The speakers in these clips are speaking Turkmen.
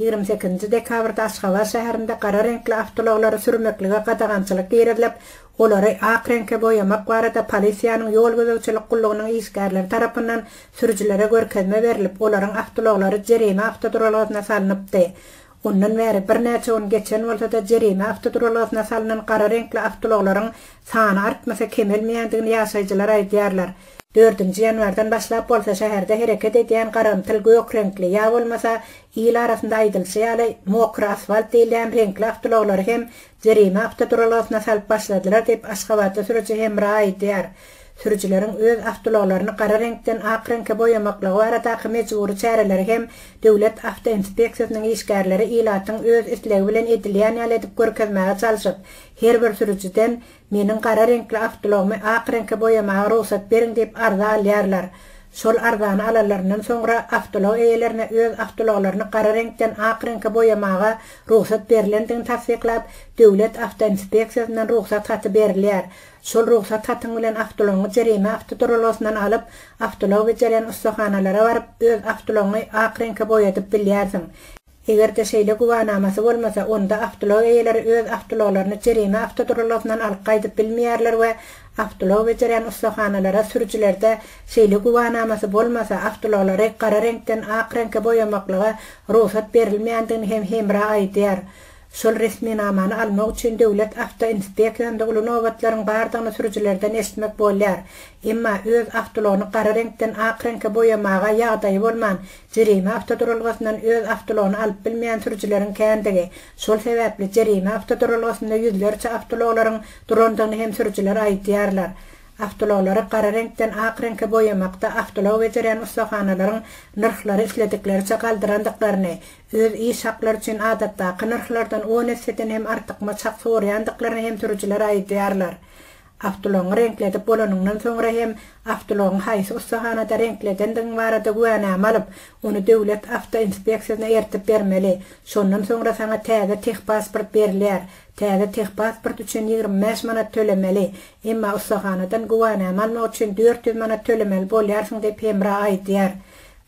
Ýigrimi sekizinji dekabrda Aşgabat şäherinde gara reňkli awtoulaglary sürmeklige gadagançylyk girizilip, olary ak reňke boýamak barada polisiýanyň ýol gözegçilik gullugynyň işgärleri tarapyndan sürüjilere görkezme berilip, olaryň awtoulaglary jerime awtoduralgasyna salnypdy. Ondan bäri birnäçe gün geçen bolsa-da, jerime awtoduralgasyna salnan gara reňkli awtoulaglaryň sany artmasa kemelmeýändigini ýaşaýjylar aýdýarlar. Dördünji ýanwardan başlap bolsa şäherde hereket edýän garamtyl gök reňkli ýa bolmasa, il arasynda aýdylyşy ýaly, mokry asfalt diýilýän reňkli awtoulaglary hem jerime awtoduralgasyna salyp başladylar diýip, aşgabatly sürüji Hemra aýdýar. Sürüjileriň öz awtoulaglaryny gara reňkden ak reňke boýamaklygy baradaky mejbury çäreleri hem döwlet awtoinspeksiýasynyň işgärleri ilatyň öz islegi bilen edilýän ýaly edip görkezmäge çalşyp, her bir sürüjiden Meniň gara reňkli awtouagymy ak reňke boýamaga rugsat beriň diýip arza alýarlar. Şol arzany alanlaryndan soňra awtoulag eýelerine öz awtoulaglaryny gara reňkden ak reňke boýamaga rugsat berilendigini tassyklap, döwlet awtoinspeksiýasyndan rugsat haty berilýär. Şol rugsat hatyň bilen awtoulagyňy jerime awtoduralgasyndan alyp, awtoulag bejerýän ussahanalara baryp öz awtoulagyňy ak reňke boýadyp bilýärsiň. Eger-de şeýle güwänamasy bolmasa, onda awtoulag eýeleri öz awtoulaglaryny jerime awtoduralgasyndan alyp gaýdyp bilmeýärler we awtoulag bejerýän ussahanalara sürüjilerde şeýle güwänamasy bolmasa, awtoulaglary gara reňkden ak reňke boýamaklyga rugsat berilmeýändigini hem hemra aýdýar. Şol resminamany almak üçin döwlet awtoinspeksiýasynda uly nobatlaryň bardygyny sürüjilerden eşitmek bolýar. Emma öz awtoulagyny gara reňkden ak reňke boýamaga ýagdaýy bolman, Jerime awtoduralgasyndan öz awtoulagyny alyp bilmeýän sürüjileriň kändigi, şol sebäpli jerime awtoduralgasynda ýüzlerçe awtoulaglaryň durandygyny hem sürüjiler aýdýarlar. Awtoulaglary gara reňkden ak reňke boýamakda awtoulag bejerýän ussahanalaryň nyrhlary isledikleriçe galdyrandyklaryny, öz iş haklary üçin adatdaky nyrhlardan on esseden hem artykmaç hak sorýandyklaryny hem sürüjiler aýdýarlar. Awtoulagyňy reňkledip bolanyňdan soňra hem awtoulagyňy haýsy ussahanada reňkledendigiň barada güwänama alyp, ony döwlet awtoinspeksiýasyna eltip bermeli. Şondan soňra saňa täze tehpasport berilýär. Täze tehpasport üçin ýigrimi bäş manat tölemeli, emma ussahanadan güwänama almak üçin dört ýüz manat tölemeli bolýarsyň diýip Hemra aýdýar.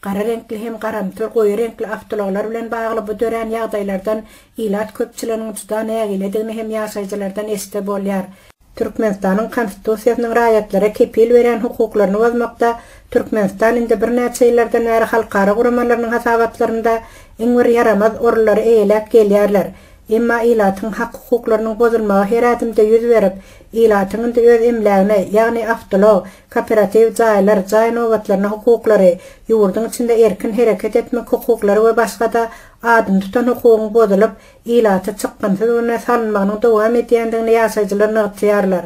Gara reňkli hem garamtyl goýy reňkli awtoulaglar bilen bagly bu dörän ýagdaýlardan ilat köpçüliginiň juda nägiledigini hem ýaşaýjylardan eşitse bolýar. Türkmenistanyň Konstitusiýasynyň raýatlara kepil berýän hukuklaryny bozmakda Türkmenistan indi birnäçe ýyllardan bäri halkara guramalarynyň hasabatlarynda iň bir ýaramaz orunlary eýeläp gelýärler. Emma ilatyň hak-hukuklarynyň bozulmagy her ädimde ýüz berip, ilatyň indi öz emlägine, ýagny awtoulag, kooperatiw jaýlar, jaý nobatlaryna hukuklary, ýurduň içinde erkin hereket etmek hukuklary we başga-da adyny tutan hukugyň bozulyp, ilata çykgynsyz günä salynmagynyň dowam edýändigini ýaşaýjylar nygtaýarlar.